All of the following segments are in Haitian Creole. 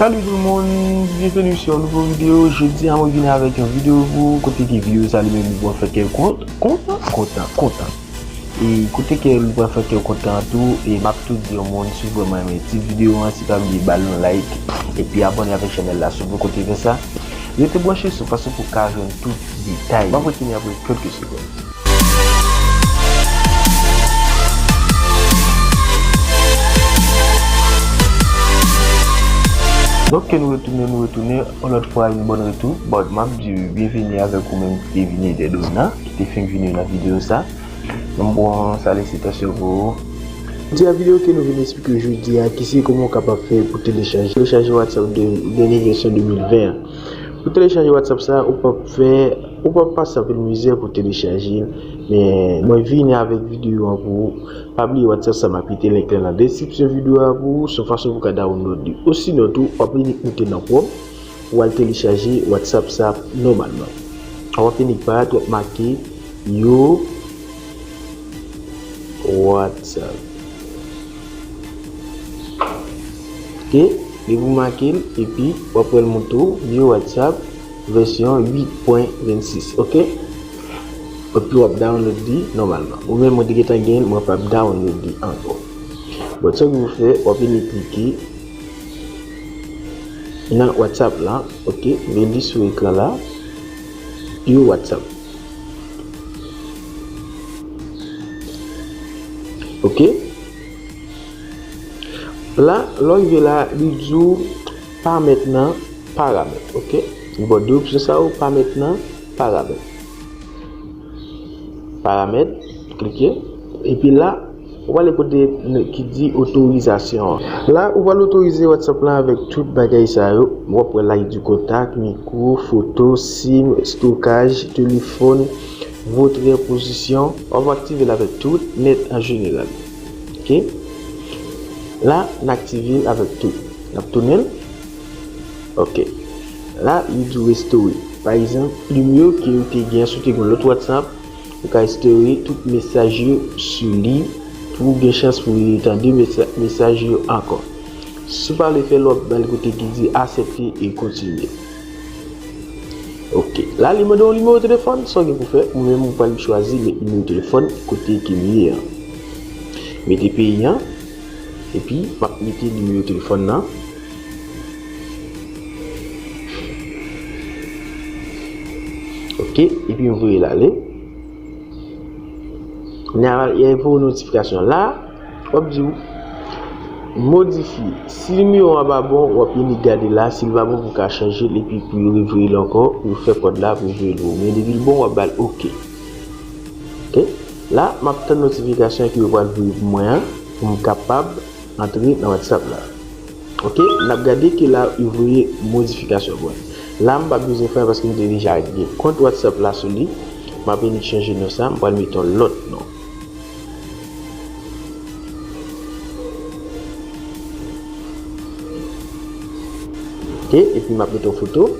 Salut tout moun, byenveni sou yon nouvo video, jodi a mwen vini avèk yon video pou kote ki video sa li menm li pral fè kèw kontan, kontan, kontan e kote ke li pral fè kèw kontan tou e map tou di yon moun si w vreman renmen ti video an si pa bliye bal yon like epi abone avèk chanèl la si w poko te fè sa rete branche sou paske pou ka jwenn tout detay yo. Ok nou retounen nou retounen yon lòt fwa yon bon retou bon map di ou byenveni avèk ou menm ki te vini dè donna ki te fenk vini nan videyo sa yon bon salisitasyon pou ou. Di a videyo ke nou vin esplike jodi a ki se kòman ou kapab fè pou telechaje whatsapp dènye vèsyon 2020 an. Pou telechaje whatsapp sa ou pap fè ou pap pase anpil mizè pou telechaje l men mwen vini avèk videyo an pou ou pa bliye whatsapp sa map kite link lan nan deskripsyon videyo a pou ou son fason pou ka download li osinon tou wap vini klike nan chrome pou al telechaje whatsapp sa nòmalman wap vini pat wap make yon whatsapp. Ok depi ou makel epi wap wèl moute ou vye whatsapp vèsyon 8 pwen 26 ok epi wap download li nòmalman ou menm mwen te gentan genl mwen pap download li ankò bon sa pou fè wap vini klike nan whatsapp la ok vye li sou ekran la vye whatsapp. Ok La lò rive la li di ou pa mèt nan paramèt ok li ba w 2 opsyon sa yo pa mèt nan paramèt paramèt klike epi la Ou pale kote ki di otorizasyon. La ou pral otorize WhatsApp la avèk tout bagay sa yo. Wap wè la di kontak, mikro, foto, sim, stokaj, telefòn, votrè, pozisyon. Wap aktive l avèk tout, nèt an jeneral. Ok. La n aktive l avèk tout. Nap tounen l. Ok. La li di restore. Pa egzanp, plim yo ke ou te gen si w te gen lòt WhatsApp. Ou ka espere tout mesaj yo sou li pou ou gen chans pou re tande mesaj yo ankò. Si w pa vle fè lòk, bal kote ki di Asepte e Kontinye. Ok. La li mande yon nimewo telefòn. Sa w gen pou fè, ou menm ou pral chwazi met nimewo telefòn kote ke li ye an. Mete peyi an, epi m ap mete nimewo telefòn nan. Ok, epi m voye l ale. N a y a yon notifikasyon la. W ap di w modifi. Si nimewo a pa bon, w ap vini gade la. Si l pa bon, pou w ka chanje l. Epi pou yo revoye l ankò. Pou fè kòd la, pou voye l pou w. Men depi l bon, w ap ba l ok. Ok, la m ap tann notifikasyon ki yo pral voye pou mwen an. Pou m kapab. Antre nan whatsapp la ok nap gade ke la u voye modifikasyon bon la m pa bezwen fè paske m te deja gen kont whatsapp la sou li m ape ni chanje non sa m pral mete yon lòt non. Ok epi map mete yon foto.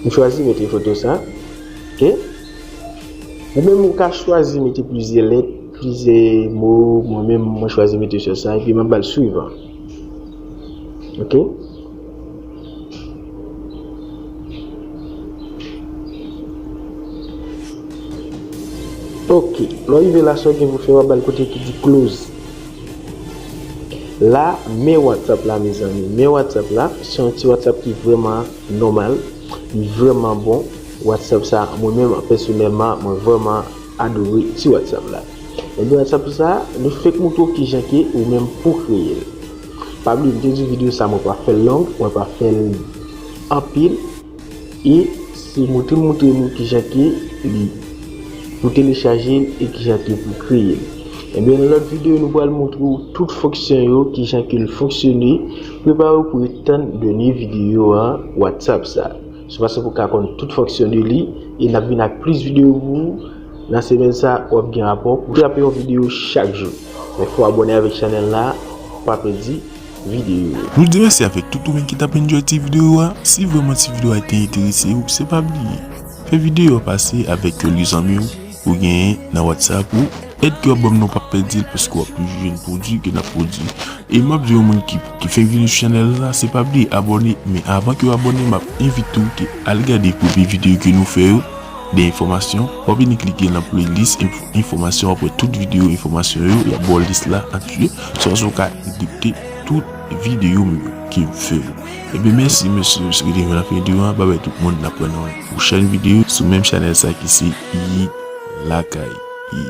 M chwazi mete foto sa ok ou menm ou ka chwazi mete plizyè lèt plizyè mo mwen menm mwen chwazi mete sèl sa epi map bal swiv ok. Ok, lè w rive la sa w gen pou w fè w ap ba l kote ki di close. La men whatsapp la mezanmi, men whatsapp la se yon ti whatsapp ki vrèman nòmal, li vrèman bon, whatsapp sa mwen menm pèsonèlman mwen vrèman adore ti whatsapp la. Ebyen whatsapp sa nou fèk moutre w kijan ke ou menm pou w kreye l. Pa bliye mte di video sa mwen pa fèl long mwen pa fèl anpil e se moutre moutre nou kijan ke li pou telechajel e kijan ke pou kreyel ebyen nan lòt video nou pral moutre ou tout fonksyon yo kijan kel fonksyone prepare ou pou ret tann dènye video whatsapp sa se paske pou ka konn tout fonksyon de li e nap vin ak plis video pou ou. Nan semèn sa wap gen rapò pou trape yon video chak jou men fò abòne avèk chanèl la pou pa pèdi video yo. Nou di mèsi avèk tout ou menm ki tap enjoy ti video a, si vrèman ti video a te enterese ou se pa bliye fè video a pase avèk yon li zanmi ou ou genyen nan whatsapp ou, èd ke wap banm nan ou pap pèdil paske wap toujou jwenn pwodwi ke nap pwodwi e map di yon moun ki ki fèk vini sou chanèl la se pa bliye abòne men avan kew abòne map envite ou ke al gade premye video ke nou fè yo. De enfòmasyon, wap vini klike lan playlist info enfòmasyon wap wè tout video enfòmasyon yo yap baw list la antuye sa so ka edikte tout video m yo kem fè yo ebyen mèsi mesye m swete nou nan fen video an babay tout moun nap pran yon pwochèn video sou menm chanèl sa ki se yi lakay yi.